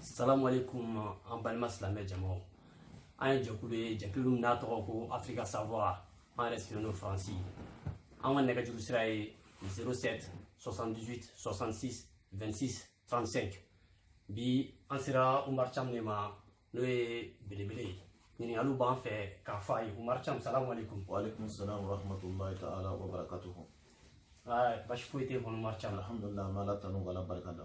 salamu aleykum an balima silamɛ jamaw an ye jɛkulu ye jɛkulu min n'a tɔgɔ ko afrika savoir an yɛrɛ sigilen don faransi an ka nɛgɛjuru sira ye 07 78 66 26 35 bi an sera umar cam de ma n'o ye belebele ye ɲininkaliw b'an fɛ k'a fɔ a ye umar cam salamu aleykum waaleykum salam warahmatulahi taala wabarakatuhu basi foyi tɛ kɔnɔ umar cam alhamdulilahi an bɛ ala tanu k'ala barika da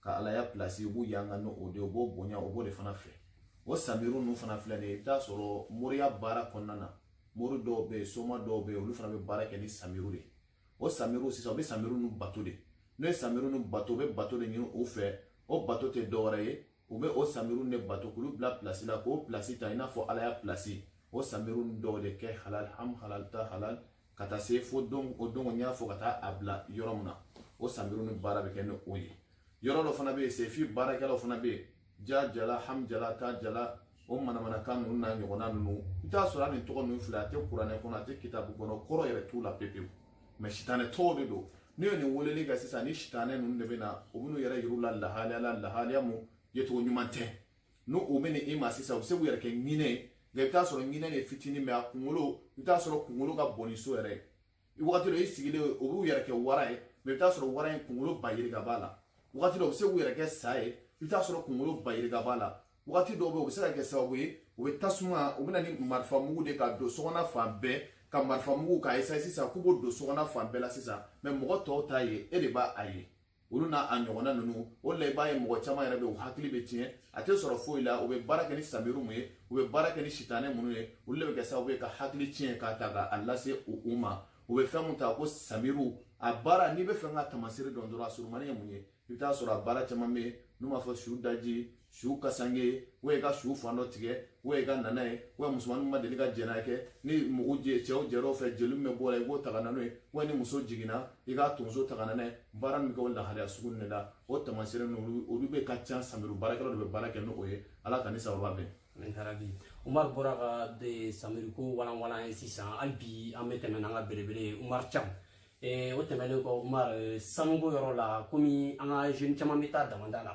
ka ala ya pilasi u b'u yanga ni o de o b'o bonya o b'o de fana fɛ o samiru ninnu fana filɛ nin ye i bɛ taa sɔrɔ moriya baara kɔnɔna na mori dɔw bɛ yen soma dɔw bɛ yen olu fana bɛ baara kɛ ni samiru de o samiru sisan u bɛ samiru ninnu bato de n'o ye samiru ninnu bato u bɛ bato de ɲini u fɛ o bato tɛ dɔwɛrɛ ye u bɛ o samiru de bato k'olu bila pilasi la k'o pilasi ta i n'a fɔ ala ya pilasi o samiru dɔw de kɛ halal ham halal ta halal ka taa se fo don o don n y'a fɔ ka taa a bila yɔrɔ min na o samiru ni baara bɛ kɛ ni o ye yɔrɔ dɔ fana bɛ yen sefi baarakɛlaw fana bɛ yen ja jala ham jala ta jala o manamanakan ninnu n'a ɲɔgɔnna ninnu i bɛ t'a sɔrɔ hali nin tɔgɔ ninnu filɛ a tɛ kuranɛ kɔnɔ a tɛ kitabu kɔnɔ kɔrɔ yɛrɛ t'u la pepewu mɛ sitanɛ tɔgɔw de don n'i ye nin weleli kɛ sisan ni sitanɛ ninnu de bɛ na u bɛ n'u yɛrɛ yir'u la lahalaya la lahalaya mun yecogo ɲuman tɛ n'u bɛ n'i ma sisan u bɛ se k'u yɛrɛ kɛ ɲinɛ ye nka i bɛ t'a sɔrɔ ɲinɛ de fitinin mɛ a kunkolo i bɛ t'a sɔrɔ kunkolo ka bon ni so yɛrɛ ye wagati dɔ i sigilen o b'u yɛrɛ kɛ wara ye mɛ i bɛ t'a sɔrɔ wara in kunkolo ba yirika b'a la wagati dɔ u bɛ se k'u yɛrɛ kɛ sa ye i bɛ t'a sɔrɔ kunkolo ba yirika b'a la wagati dɔw bɛ yen u bɛ se ka kɛ sababu ye u bɛ tasuma u bɛ na ni marifa mugu de ka don sokɔnɔ fan bɛɛ ka marifa mugu k'a ye sisan k'u b'o don sokɔnɔ fan bɛɛ la sisan mɛ mɔgɔ tɔw t'a ye e de b'a ye olu n'a ɲɔgɔnna ninnu o la i b'a ye mɔgɔ caman yɛrɛ bɛ u hakili bɛ tiɲɛ a tɛ sɔrɔ foyi la u bɛ baara kɛ ni samiru mun ye u bɛ baara kɛ ni sitanɛ minnu ye olu de bɛ kɛ sababu ye ka hakili tiɲɛ k'a ta k'a lase u ma u bɛ fɛn mun ta ko samiru a baara n'i bɛ fɛ k'a tamasiri dɔn dɔrɔn a surumani ye mun ye i bɛ taa sɔrɔ a baara caman bɛ yen n'u b'a fɔ su daji su kasanke ye wa i ka su fan dɔ tigɛ wa i ka na n'a ye wa musomaninw ma deli ka jɛnɛ kɛ ni mɔgɔw jɛ cɛw jɛr'o fɛ jeli min bɛ bɔ a la i b'o ta ka na n'o ye wa ni muso jiginna i k'a tonso ta ka na n'a ye baara min bɛ kɛ o lahalaya sugu ninnu de la o tamasiri ninnu olu bɛ ka ca samiri baarakɛlaw de bɛ baara kɛ n'o ye ala k'an ni sababa bɛn. Yarabi Umar bɔra ka samiriko walanwalan an ye sisan hali bi an bɛ tɛmɛ n'an ka belebele ye Umar Cam o tɛmɛnen kɔ Umar sanuko yɔrɔ la komi an ka jeune caman bɛ taa damanda la.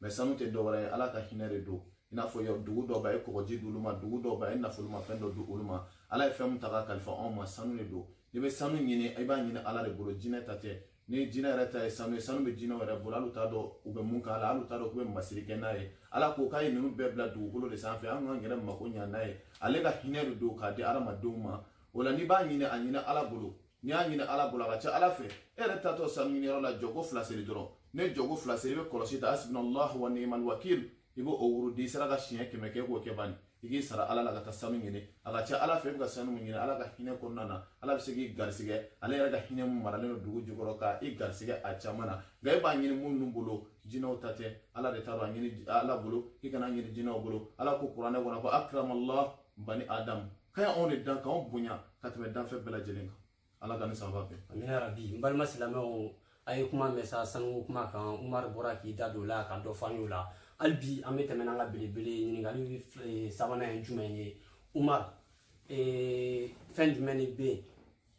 mɛ sanu tɛ dɔwɛrɛ ye ala ka hinɛ de don i n'a fɔ dugu dɔw bɛ a ye kɔgɔji di olu ma dugu dɔw bɛ a ye nafolomafɛn dɔ di olu ma ala ye fɛn min ta k'a kalifa anw ma sanu de don n'i bɛ sanu ɲini i b'a ɲini ala de bolo jinɛ ta tɛ ni jinɛ yɛrɛ ta ye sanu ye sanu bɛ jinɛw yɛrɛ bolo hali u t'a dɔn u bɛ mun k'a la hali u t'a dɔn k'u bɛ masiri kɛ n'a ye ala ko k'a ye ninnu bɛɛ bila dugukolo de sanfɛ an k'an yɛrɛ mako ɲa n'a ye ale ka hinɛ de don k'a di adamadenw ma o la n'i b'a ɲini a ɲini ala bolo n'i y'a ɲini ala bolo a ka ca ala fɛ e yɛrɛ taatɔ sanu ɲini yɔrɔ la jɔko fila seli dɔrɔn n'e jɔko fila seli i bɛ kɔlɔsi ta hasbunallahu wa ni'mal wakil i b'o wurudi i sera ka siɲɛ kɛmɛ kɛ k'o kɛ bani i k'i sara ala la ka taa sanu ɲini a ka ca ala fɛ i bɛ ka sanu min ɲini ala ka hinɛ kɔnɔna na ala bɛ se k'i garisigɛ ale yɛrɛ ka hinɛ min maralen don dugu jukɔrɔ ka i garisigɛ a caman na nka e b'a ɲini minnu bolo jinɛw ta tɛ ala de ta don a ɲini ala bolo i kan'a ɲini jinɛw bolo ala ko kuranɛ kɔnɔ ko akiramallah bani adamu k'a y'anw de dan k'anw bonya ka tɛmɛ danfɛn bɛɛ lajɛlen kan ala k'an ni sawaba bɛn amina yarabi n balima silamɛw a ye kuma mɛn sa sanuko kuma kan umaru bɔra k'i da don o la ka dɔ fɔ an y'o la hali bi an bɛ tɛmɛ n'an ka belebele ɲininkali eh, sabanan ye jumɛn ye umaru eh, fɛn jumɛn de bɛ yen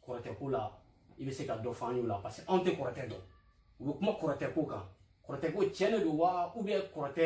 kɔrɔtɛ ko la i bɛ se ka dɔ fɔ an y'o la parce que anw tɛ kɔrɔtɛ dɔn u bɛ kuma kɔrɔtɛ ko kan kɔrɔtɛ ko tiɲɛ de don wa ou bien kɔrɔtɛ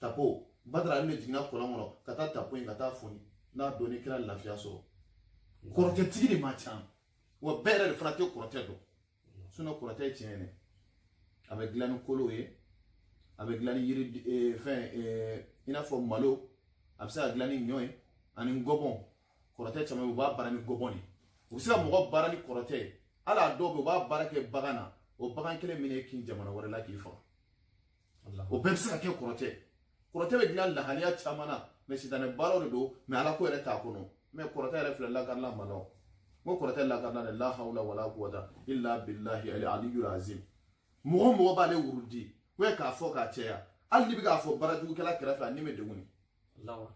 tafo badara ali de jiginna kɔlɔn kɔnɔ ka taa tafo in ka taa foni n'a dɔn ni kira lafiya sɔrɔ kɔrɔtɛtigi de man ca wa bɛɛ yɛrɛ de fana tɛ kɔrɔtɛ dɔn sinɔn kɔrɔtɛ ye tiɲɛ ye a bɛ dilan ni kolow ye a bɛ dilan ni yiri eh, fɛn eh, i n'a fɔ malo a bɛ se ka dilan ni ɲɔ ye ani ngɔbɔn kɔrɔtɛ caman u b'a baara ni ngɔbɔn de u bɛ se ka mɔgɔ baara ni kɔrɔtɛ ye hali a dɔw bɛ u b'a baara kɛ bagan na o bagan kelen min y'i kin jamana wɛrɛ la k'i faga o bɛɛ bɛ se ka kɛ kɔrɔtɛ kɔrɔtɛ bɛ dilan lahaliya caman na mɛ sitanɛ baaraw de don mɛ ala ko yɛrɛ t'a kɔnɔ mɛ kɔrɔtɛ yɛrɛ filɛ lakarila ma la ko kɔrɔtɛ lakarilan de la hawla wala quwata illa billahi al aliyul azim mɔgɔ o mɔgɔ b'ale wurudi o ye k'a fɔ k'a cɛya hali n'i bɛ k'a fɔ baarajugukɛla kɛrɛfɛ a ni bɛ degun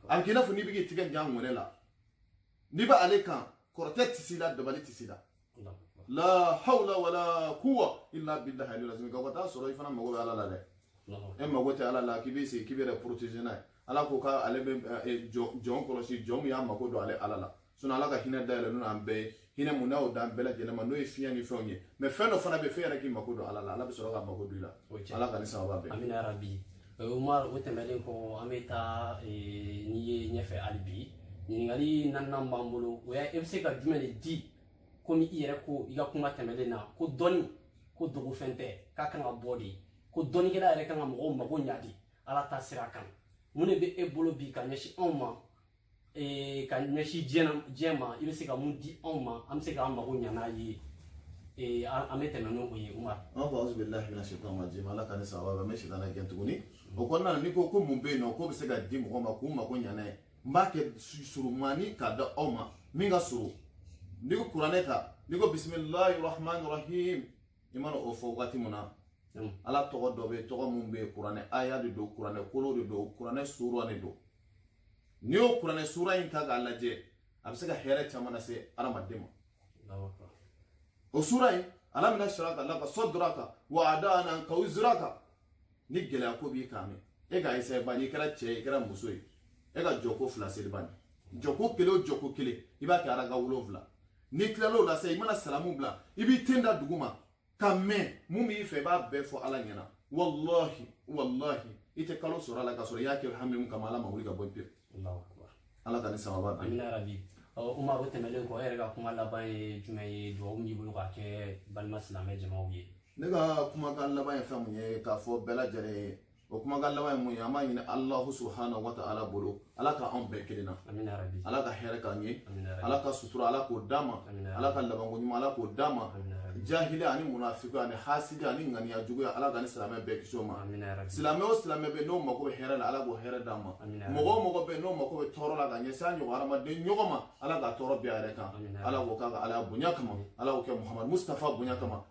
a bɛ k'i n'a fɔ n'i bɛ k'i tigɛ jan ŋɔni la n'i bɛ ale kan kɔrɔtɛ tɛ s'i la dabali tɛ s'i la la hawla wala kuwa illa billahi aliyul azim ka t'a sɔrɔ i fana mago bɛ ala la dɛ e mago tɛ ala la k'i bɛ sigi k'i b'i yɛrɛ protéger n'a ye ala ko k'ale bɛ jɔn kɔlɔsi jɔn min y'a mago don ale ala la sinɔn ala ka hinɛ dayɛlɛlen don an bɛɛ ye hinɛ min n'a y'o d'an bɛɛ lajɛlen ma n'o ye fiɲɛ ni fɛnw ye mɛ fɛn dɔ fana bɛ f'e yɛrɛ k'i mako don ala la ala bɛ sɔrɔ ka mako don i la ala k'an ni sawaba bɛn amina yarabi umar o tɛmɛnen kɔ an bɛ taa n'i ye ɲɛfɛ hali bi ɲininkali naaninan b'an bolo o ye e bɛ se ka jumɛn de di komi i yɛrɛ ko i ka kuma tɛmɛlen na ko dɔnni ko dogofɛn tɛ k'a kan ka bɔ de ko dɔnnikɛla yɛrɛ kan ka mɔgɔw mago ɲa de ala ta sira kan mun de bɛ e bolo bi ka ɲɛsin anw ma ee ka ɲɛsin diɲɛ na diɲɛ ma i bɛ se ka mun di anw ma an bɛ se k'an mago ɲa n'a ye ee an an bɛ tɛmɛ n'o o ye Umar. an fɔ auzu bilahi mina shaitan rajim ala k'an ni sawaba bɛn n bɛ sitanɛ gɛn tuguni o kɔnɔna na n'i ko ko mun bɛ yen nɔ k'o bɛ se ka di mɔgɔ ma k'u mago ɲa n'a ye n b'a kɛ su- surumani k'a da aw ma min ka surun n'i ko kuranɛ ta n'i ko bisimilahi rahmani rahim i mana o fɔ waati min na Naam. ala tɔgɔ dɔ bɛ yen tɔgɔ min bɛ yen kuranɛ aya de don kuranɛ kolo de don kuranɛ sura de don n'i y'o kuranɛ sura in ta k'a lajɛ a bɛ se ka hɛrɛ caman lase adamaden ma o sura in ala mina siraka laka saduraka wa adana ka wiziraka ni gɛlɛya ko b'i kan min e ka essayer bani i kɛra cɛ ye i kɛra muso ye e ka jɔko fila seli bani jɔko kelen o jɔko kelen i b'a kɛ araka wolonfila n'i tilal'o la sa i mana salamu bila i b'i ten da duguma ka mɛɛn mun b'i fɛ i b'a bɛɛ fɔ ala ɲɛna walahi walahi i tɛ kalo sɔrɔ a la k'a sɔrɔ i y'a kɛ hami mun kama ala m'a wuli ka bɔ pewu ala k'an ni sababu bɛn amina rabi umar o tɛmɛlen kɔ e yɛrɛ ka kuma laban ye jumɛn ye dugawu min b'i bolo k'a kɛ balima silamɛ jamaw ye ne ka kumakan laban ye fɛn mun ye k'a fɔ bɛɛ lajɛlen ye o kumakan laban ye mun ye an b'a ɲini alahu subahana wa taala bolo ala ka anw bɛɛ kelenna ala ka hɛrɛ k'an ye ala ka sutura ala k'o d'an ma ala ka labanko ɲuman ala k'o d'an ma jahili ani munafiko ani hasidi ani ŋaniya juguya ala k'an ni silamɛ bɛɛ kisi o ma silamɛ o silamɛ bɛ n'o mako bɛ hɛrɛ la ala k'o hɛrɛ d'a ma mɔgɔ o mɔgɔ bɛ n'o mako bɛ tɔɔrɔ la ka ɲɛsin a ɲɔgɔn hadamaden ɲɔgɔn ma ala ka tɔɔrɔ bin a yɛrɛ kan ala k'o k'a ka ala bonya kama ala k'o kɛ muhamadu mustafa bonya kama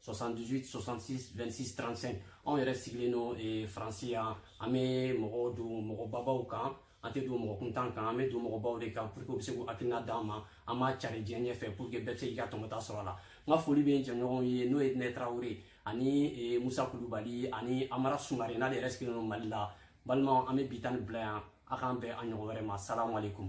78 66 26 35 anw yɛrɛ sigilen don eh, faransi yan an bɛ mɔgɔw don mɔgɔbabaw kan an tɛ don mɔgɔ kuntan kan an bɛ don mɔgɔbaw de kan pour que u bɛ se k'u hakilina d'an ma an b'a cari diɲɛ ɲɛfɛ pour que bɛɛ bɛ se k'i ka tɔmɔta sɔrɔ a la n ka foli bɛ n jɛɲɔgɔnw ye n'o ye nɛ tarawele ani eh, musa kulubali ani amara sumare n'ale yɛrɛ sigilen don mali la balimaw an bɛ bi ta nin bila yan a k'an bɛn a ɲɔgɔn wɛrɛ ma salamu aleykum